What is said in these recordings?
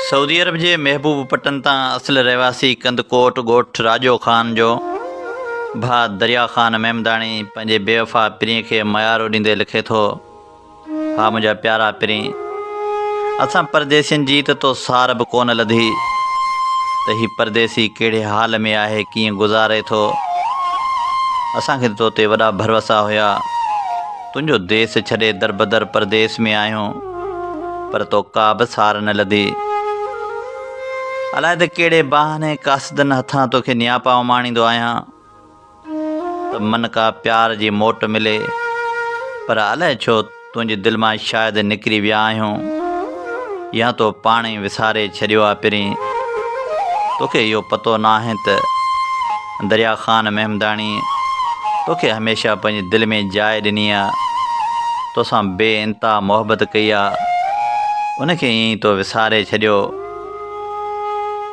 سعودي عرب جي محبوب پٽن تان اصل رهواسي ڪندڪوٽ ڳوٺ راڄو خان جو ڀاء دريا خان ميمداڻي پنهنجي بيوفا پرينء کي ميارو ڏيندي لکي ٿو، ها منهنجا پيارا پرين! اسان پرديسين جي ته تو سار به ڪونه لڌي ته هي پرديسي ڪهڙي حال ۾ آهي ڪيئن گذاري ٿو. اسان کي ته تو تي وڏا ڀروسا هيا. تنهنجو ديس ڇڏي دربدر پرديس ۾ آهيون پر تو ڪا به سار نه لڌي. الائي ته ڪهڙي بهاني قاصدن هٿان تو کي نياپا اماڻيندو آهيان. ته من ڪا پيار جي موٽ ملي، پر الائي ڇو تنهنجي دل مان شايد نڪري ويا آهيون يا تو پاڻ ئي وساري ڇڏيو آ پرين. توکي اهو پتو ناهي ته دريا خان مهمداڻي توکي هميشه پنهنجي دل ۾ جاء ڏني آ، توسان بي انتها محبت ڪئي آ، ان کي ائين ئي تو وساري ڇڏيو.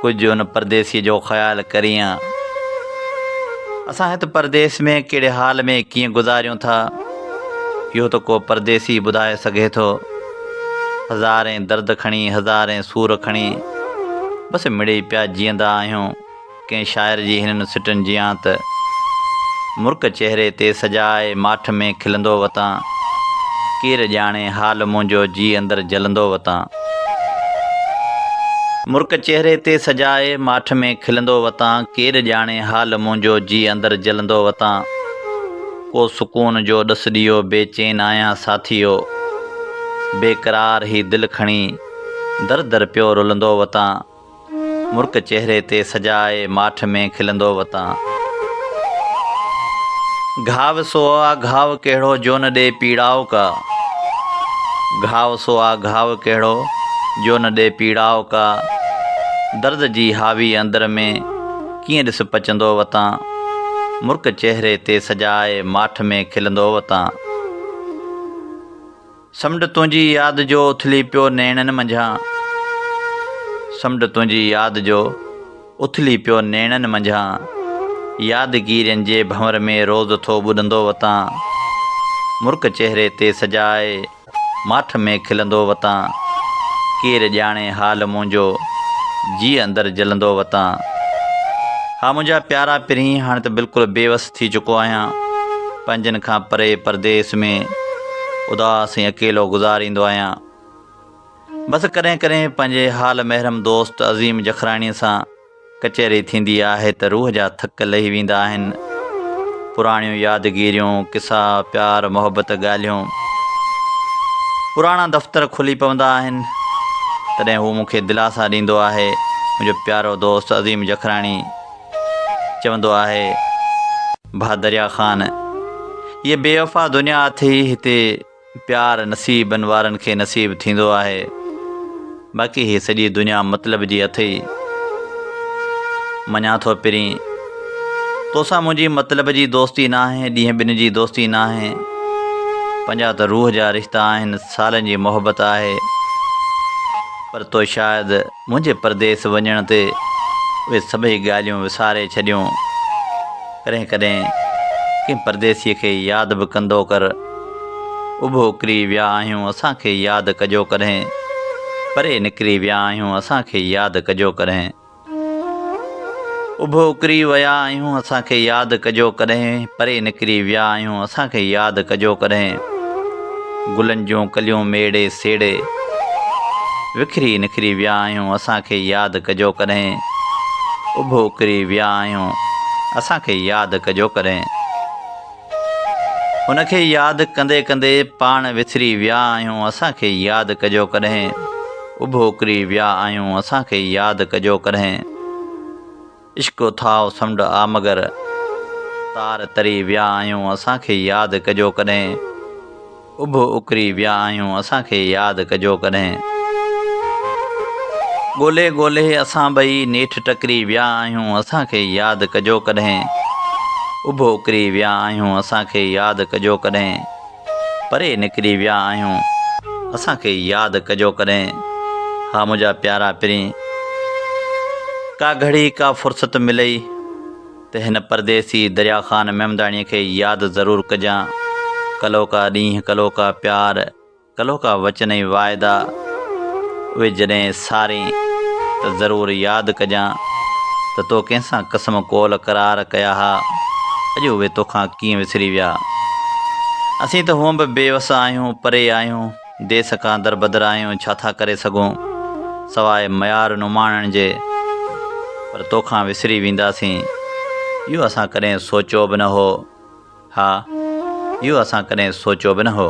ڪجهه ان پرديسيء جو خيال ڪريان. اسان هت پرديس ۾ ڪهڙي حال ۾ ڪيئن گذاريون ٿا، اهو ته ڪو پرديسي ٻڌائي سگهي ٿو. هزارين درد کڻي، هزارين سور کڻي، بس مڙيئي پيا جيئندا آهيون. ڪنهن شاعر جي هنن سٽن جيان ته مرڪ چهري تي سجائي ماٺ ۾ کلندو وتان ڪير ڄاڻي حال منهنجو جي اندر جلندو وتان مرڪ چهري تي سجائي ماٺ ۾ کلندو وتان ڪير ڄاڻي حال منهنجو جي اندر جلندو وتان ڪو سڪون جو ڏس ڏيو بي چين آهيان ساٿيو بيقرار هي دل کڻي در در پيو رلندو وتان. مرڪ چهري تي سجائي، ماٺ ۾ کلندو وتان. گهاو سو آ گهاو ڪهڙو، جو نه ڏي پيڙائو ڪا. گهاو سو آ گهاو ڪهڙو، جو نه ڏي پيڙائو ڪا. درد جي هاوي اندر ۾، ڪيئن ڏس پچندو وتان. مرڪ چهري تي سجائي، ماٺ ۾ کلندو وتان. سمنڊ تنهنجي ياد جو اٿلي پيو نيڻن منجهان سمنڊ تنهنجي ياد جو اٿلي پيو نيڻن منجهان يادگيرين جي ڀنور ۾ روز ٿو ٻڏندو وتان مرڪ چهري تي سجائي ماٺ ۾ کلندو وتان ڪير ڄاڻي حال منهنجو جيء اندر جلندو وتان ها منهنجا پيارا پرينء هاڻي ته بلڪل بيوس ٿي چڪو آهيان پنهنجن کان پري پرديس ۾ اداس ۽ اڪيلو گذاريندو آهيان بس ڪڏهن ڪڏهن پنهنجي حال محرم دوست عظيم جکراڻي سان ڪچهري ٿيندي آهي ته روح جا ٿڪ لهي ويندا آهن پراڻيون يادگيريون قصا پيار محبت ڳالهيون پراڻا دفتر کلي پوندا آهن تڏهن هو مونکي دلاسا ڏيندو آهي منهنجو پيارو دوست عظيم جکراڻي چوندو آهي، ڀا دريا خان! هيء بي وفا دنيا اٿي ئي هتي پيار نصيبن وارن کي نصيب ٿيندو آهي، باقي هيء سڄي دنيا مطلب جي اٿئي. مڃان ٿو پرين، تو سان منهنجي مطلب جي دوستي ناهي، ڏينهن ٻن جي دوستي ناهي، پنهنجا ته روح جا رشتا آهن، سالن جي محبت آهي، پر تو شايد، منهنجي پرديس وڃڻ تي اهي سڀئي ڳالهيون وساري ڇڏيون. ڪڏهن ڪڏهن ڪنهن پرديسيء کي ياد به ڪندو ڪر. اڀو ڪري ويا آهيون اسان کي ياد ڪجو ڪڏهن. پري نڪري ويا آهيون اسان کي ياد ڪجو ڪڏهن. اڀو ڪري ويا آهيون اسان کي ياد ڪجو ڪڏهن. پري نڪري ويا آهيون اسان کي ياد ڪجو ڪڏهن. گلن جون ڪليون ميڙي سيڙي وکري نکري ويا آهيون اسان کي ياد ڪجو ڪڏهن اڀو ڪري ويا آهيون اسان کي ياد ڪجو ڪڏهن ان کي ياد ڪندي ڪندي پاڻ وسري ويا آهيون اسان کي ياد ڪجو ڪڏهن اڀو ڪري ويا آهيون اسان کي ياد ڪجو ڪڏهن عشق اٿاهه سمنڊ آ مگر، تار تري ويا آهيون اسان کي ياد ڪجو ڪڏهن، اڀ اڪري ويا آهيون اسان کي ياد ڪجو ڪڏهن، ڳولهي ڳولهي اسان ٻئي نيٺ ٽڪري ويا آهيون اسان کي ياد ڪجو ڪڏهن، اڀ اڪري ويا آهيون اسان کي ياد ڪجو ڪڏهن. پري نڪري ويا آهيون اسان کي ياد ڪجو ڪڏهن ها منهنجا پيارا پرين ڪا گهڙي ڪا فرصت ملئي ته هن پرديسي دريا خان محمداڻي کي ياد ضرور ڪجان ڪلهوڪا ڏينهن ڪلهوڪا پيار ڪلهوڪا وچن ۽ واعدا اهي جڏهن سارين ته ضرور ياد ڪجان ته تو ڪنهن سان قسم قول قرار ڪيا ها، اڄ اهي توکان ڪيئن وسري ويا. اسين ته هونئن به بي وس آهيون، پري آهيون، ديس کان دربدر آهيون، ڇا ٿا ڪري سگهون سواء ميار نماڻڻ جي، پر توکان وسري وينداسين، اهو اسان ڪڏهن سوچيو به نه هو. ها، اهو اسان ڪڏهن سوچيو به نه هو.